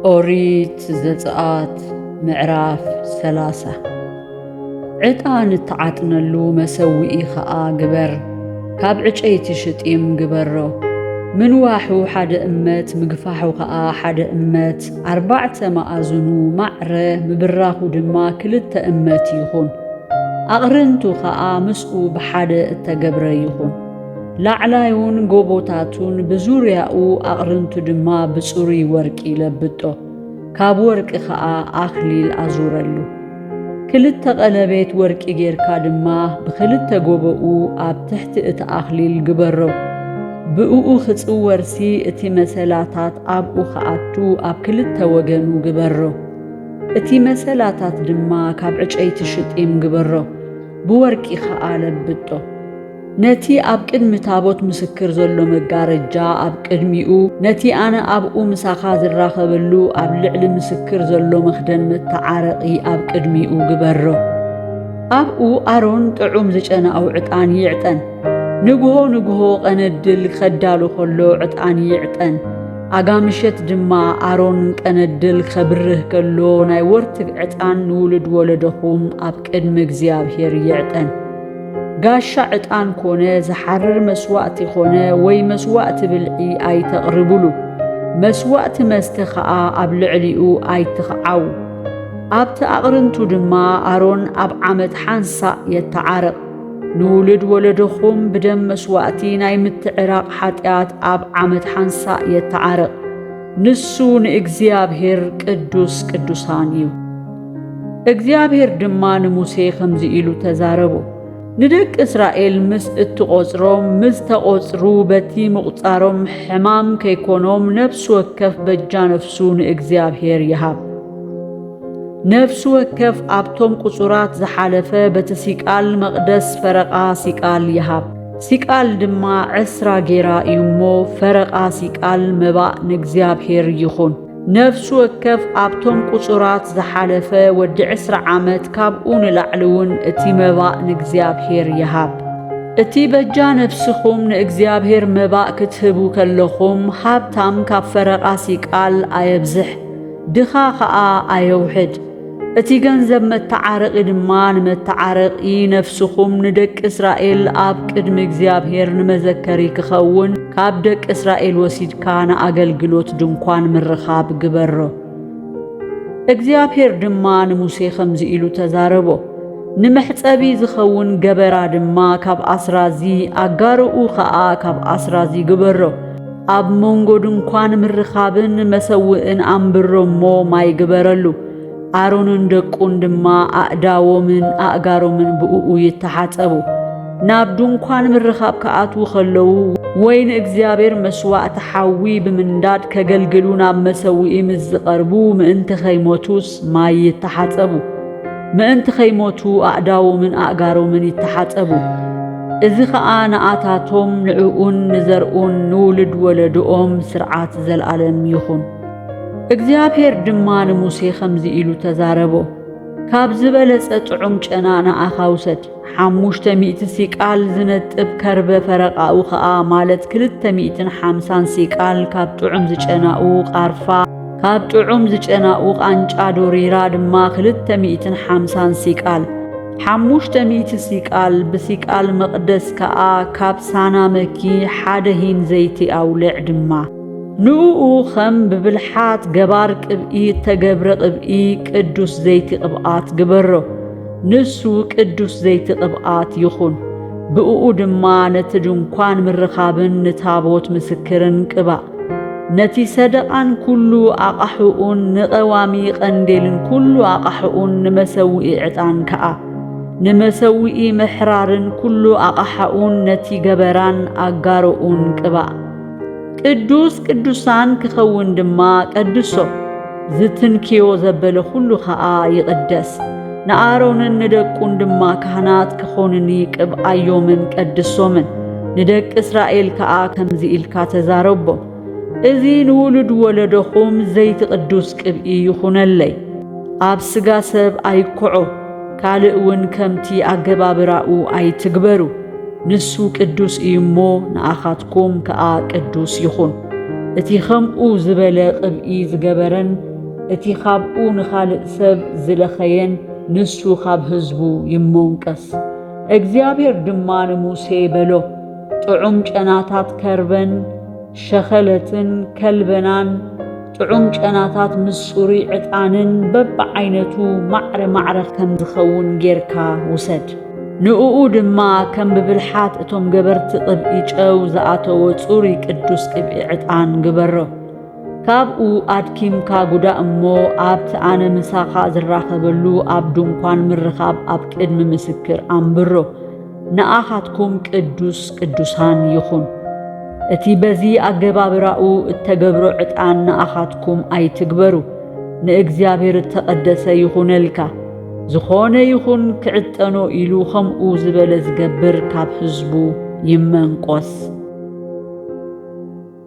ኦሪት ዘጽኣት ምዕራፍ ሰላሳ ዕጣን እትዓጥነሉ መሰውኢ ኸኣ ግበር፣ ካብ ዕጨይቲ ሽጢም ግበሮ። ምንዋሑ ሓደ እመት ምግፋሑ ኸኣ ሓደ እመት፣ ኣርባዕተ መኣዝኑ ማዕረ ምብራኹ ድማ ክልተ እመት ይኹን። ኣቕርንቱ ኸኣ ምስኡ ብሓደ እተገብረ ይኹን። ላዕላዩን ጎቦታቱን ብዙርያኡ ኣቕርንቱ ድማ ብጽሩይ ወርቂ ለብጦ፣ ካብ ወርቂ ኸኣ ኣኽሊል ኣዙረሉ። ክልተ ቐለቤት ወርቂ ጌርካ ድማ ብኽልተ ጎቦኡ ኣብ ትሕቲ እቲ ኣኽሊል ግበሮ። ብእኡ ኺጽወርሲ እቲ መሰላታት ኣብኡ ኺኣቱ ኣብ ክልተ ወገኑ ግበሮ። እቲ መሰላታት ድማ ካብ ዕጨይቲ ሽጢም ግበሮ፣ ብወርቂ ኸኣ ለብጦ። ነቲ ኣብ ቅድሚ ታቦት ምስክር ዘሎ መጋረጃ ኣብ ቅድሚኡ ነቲ ኣነ ኣብኡ ምሳኻ ዝራኸበሉ ኣብ ልዕሊ ምስክር ዘሎ መኽደን መተዓረቒ ኣብ ቅድሚኡ ግበሮ። ኣብኡ ኣሮን ጥዑም ዝጨናኡ ዕጣን ይዕጠን። ንግሆ ንግሆ ቐነድል ኸዳሉ ኸሎ ዕጣን ይዕጠን። ኣጋ ምሸት ድማ ኣሮን ቀነድል ኸብርህ ከሎ ናይ ወርትግ ዕጣን ንውሉድ ወለዶኹም ኣብ ቅድሚ እግዚኣብሄር ይዕጠን። ጋሻ ዕጣን ኮነ ዝሓርር መስዋእቲ ኾነ ወይ መስዋእቲ ብልዒ ኣይተቕርብሉ። መስዋእቲ መስተ ኸኣ ኣብ ልዕሊኡ ኣይትኽዓዉ። ኣብቲ ኣቕርንቱ ድማ ኣሮን ኣብ ዓመት ሓንሳእ የተዓርቕ። ንውሉድ ወለዶኹም ብደም መስዋእቲ ናይ ምትዕራቕ ሓጢኣት ኣብ ዓመት ሓንሳእ የተዓርቕ። ንሱ ንእግዚኣብሄር ቅዱስ ቅዱሳን እዩ። እግዚኣብሔር ድማ ንሙሴ ኸምዚ ኢሉ ተዛረቦ። ንደቂ እስራኤል ምስ እትቖጽሮም ምስ ተቖጽሩ በቲ ምቝጻሮም ሕማም ከይኮኖም ነፍሲ ወከፍ በጃ ነፍሱ ንእግዚኣብሔር ይሃብ። ነፍሲ ወከፍ ኣብቶም ቁጹራት ዝሓለፈ በቲ ሲቃል መቕደስ ፈረቓ ሲቃል ይሃብ። ሲቃል ድማ ዕስራ ጌራ እዩ እሞ ፈረቓ ሲቃል መባእ ንእግዚኣብሔር ይኹን። ነፍሲ ወከፍ ኣብቶም ቁጹራት ዝሓለፈ ወዲ ዕስራ ዓመት ካብኡ ንላዕሊ እውን እቲ መባእ ንእግዚኣብሔር ይሃብ። እቲ በጃ ነፍስኹም ንእግዚኣብሔር መባእ ክትህቡ ከለኹም ሃብታም ካብ ፈረቓሲ ቃል ኣየብዝሕ፣ ድኻ ኸኣ ኣየውሕድ። እቲ ገንዘብ መተዓረቒ ድማ ንመተዓረቒ ነፍስኹም ንደቂ እስራኤል ኣብ ቅድሚ እግዚኣብሔር ንመዘከሪ ክኸውን ካብ ደቂ እስራኤል ወሲድካ ንኣገልግሎት ድንኳን ምርኻብ ግበሮ። እግዚኣብሔር ድማ ንሙሴ ኸምዚ ኢሉ ተዛረቦ ንመሕጸቢ ዝኸውን ገበራ ድማ ካብ ኣስራዚ ኣጋርኡ ኸኣ ካብ ኣስራዚ ግበሮ። ኣብ መንጎ ድንኳን ምርኻብን መሰውእን ኣንብሮ እሞ ማይ ግበረሉ። ኣሮንን ደቁን ድማ ኣእዳዎምን ኣእጋሮምን ብእኡ ይተሓጸቡ። ናብ ድንኳን ምርኻብ ክኣትዉ ኸለዉ ወይ ንእግዚኣብሔር መሥዋዕቲ ሓዊ ብምንዳድ ከገልግሉ ናብ መሰውኢ ምስ ዝቐርቡ ምእንቲ ኸይሞቱስ ማይ ይተሓጸቡ። ምእንቲ ኸይሞቱ ኣእዳዎምን ኣእጋሮምን ይተሓጸቡ። እዚ ኸኣ ንኣታቶም፣ ንዕኡን ንዘርኡን፣ ንውሉድ ወለዶኦም ስርዓት ዘለኣለም ይኹን። እግዚኣብሄር ድማ ንሙሴ ኸምዚ ኢሉ ተዛረቦ፣ ካብ ዝበለጸ ጥዑም ጨና ንኣኻ ውሰድ። ሓሙሽተ ሚእቲ ሲቃል ዝነጥብ ከርበ ፈረቓኡ ኸኣ ማለት ክልተ ሚእትን ሓምሳን ሲቃል ካብ ጥዑም ዝጨናኡ ቓርፋ ካብ ጥዑም ዝጨናኡ ቓንጫ ዶሪራ ድማ ክልተ ሚእትን ሓምሳን ሲቃል ሓሙሽተ ሚእቲ ሲቃል ብሲቃል መቕደስ ከኣ ካብ ሳና መኪ ሓደ ሂን ዘይቲ ኣውልዕ ድማ ንእኡ ኸም ብብልሓት ገባር ቅብኢ እተገብረ ቕብኢ ቅዱስ ዘይቲ ቕብኣት ግበሮ። ንሱ ቅዱስ ዘይቲ ቅብኣት ይኹን፣ ብእኡ ድማ ነቲ ድንኳን ምርኻብን ንታቦት ምስክርን ቅባእ። ነቲ ሰደቓን ኩሉ ኣቓሑኡን ንቐዋሚ ቐንዴልን ኩሉ ኣቓሑኡን ንመሰውኢ ዕጣን ከኣ ንመሰውኢ ምሕራርን ኩሉ ኣቓሓኡን ነቲ ገበራን ኣጋሮኡን ቅባእ። ቅዱስ ቅዱሳን ክኸውን ድማ ቀድሶ ዝትንክዮ ዘበለ ዅሉ ኸኣ ይቕደስ። ንኣሮንን ንደቁን ድማ ካህናት ክዀኑኒ ቅብኣዮምን ቀድሶምን። ንደቂ እስራኤል ከኣ ከምዚ ኢልካ ተዛረቦም፣ እዚ ንውሉድ ወለዶኹም ዘይቲ ቅዱስ ቅብኢ ይኹነለይ። ኣብ ስጋ ሰብ ኣይኵዖ፣ ካልእ ውን ከምቲ ኣገባብራኡ ኣይትግበሩ፣ ንሱ ቅዱስ እዩ እሞ ንኣኻትኩም ከኣ ቅዱስ ይኹን። እቲ ኸምኡ ዝበለ ቕብኢ ዝገበረን እቲ ኻብኡ ንኻልእ ሰብ ዝለኸየን ንሱ ኻብ ህዝቡ ይሞንቀስ። እግዚኣብሄር ድማ ንሙሴ በሎ፣ ጥዑም ጨናታት ከርበን ሸኸለትን ከልበናን፣ ጥዑም ጨናታት ምስ ጽሩይ ዕጣንን በብዓይነቱ ማዕረ ማዕረ ከም ዝኸውን ጌርካ ውሰድ። ንእኡ ድማ ከም ብብልሓት እቶም ገበርቲ ቅብኢ ጨው ዝኣተዎ ጽሩይ ቅዱስ ቅብኢ ዕጣን ግበሮ። ካብኡ ኣድኪምካ ጉዳ እሞ ኣብቲ ኣነ ምሳኻ ዝራኸበሉ ኣብ ድንኳን ምርኻብ ኣብ ቅድሚ ምስክር ኣንብሮ። ንኣኻትኩም ቅዱስ ቅዱሳን ይኹን። እቲ በዚ ኣገባብራኡ እተገብሮ ዕጣን ንኣኻትኩም ኣይትግበሩ፣ ንእግዚኣብሔር እተቐደሰ ይኹነልካ። ዝኾነ ይኹን ክዕጠኖ ኢሉ ኸምኡ ዝበለ ዝገብር ካብ ህዝቡ ይመንቈስ።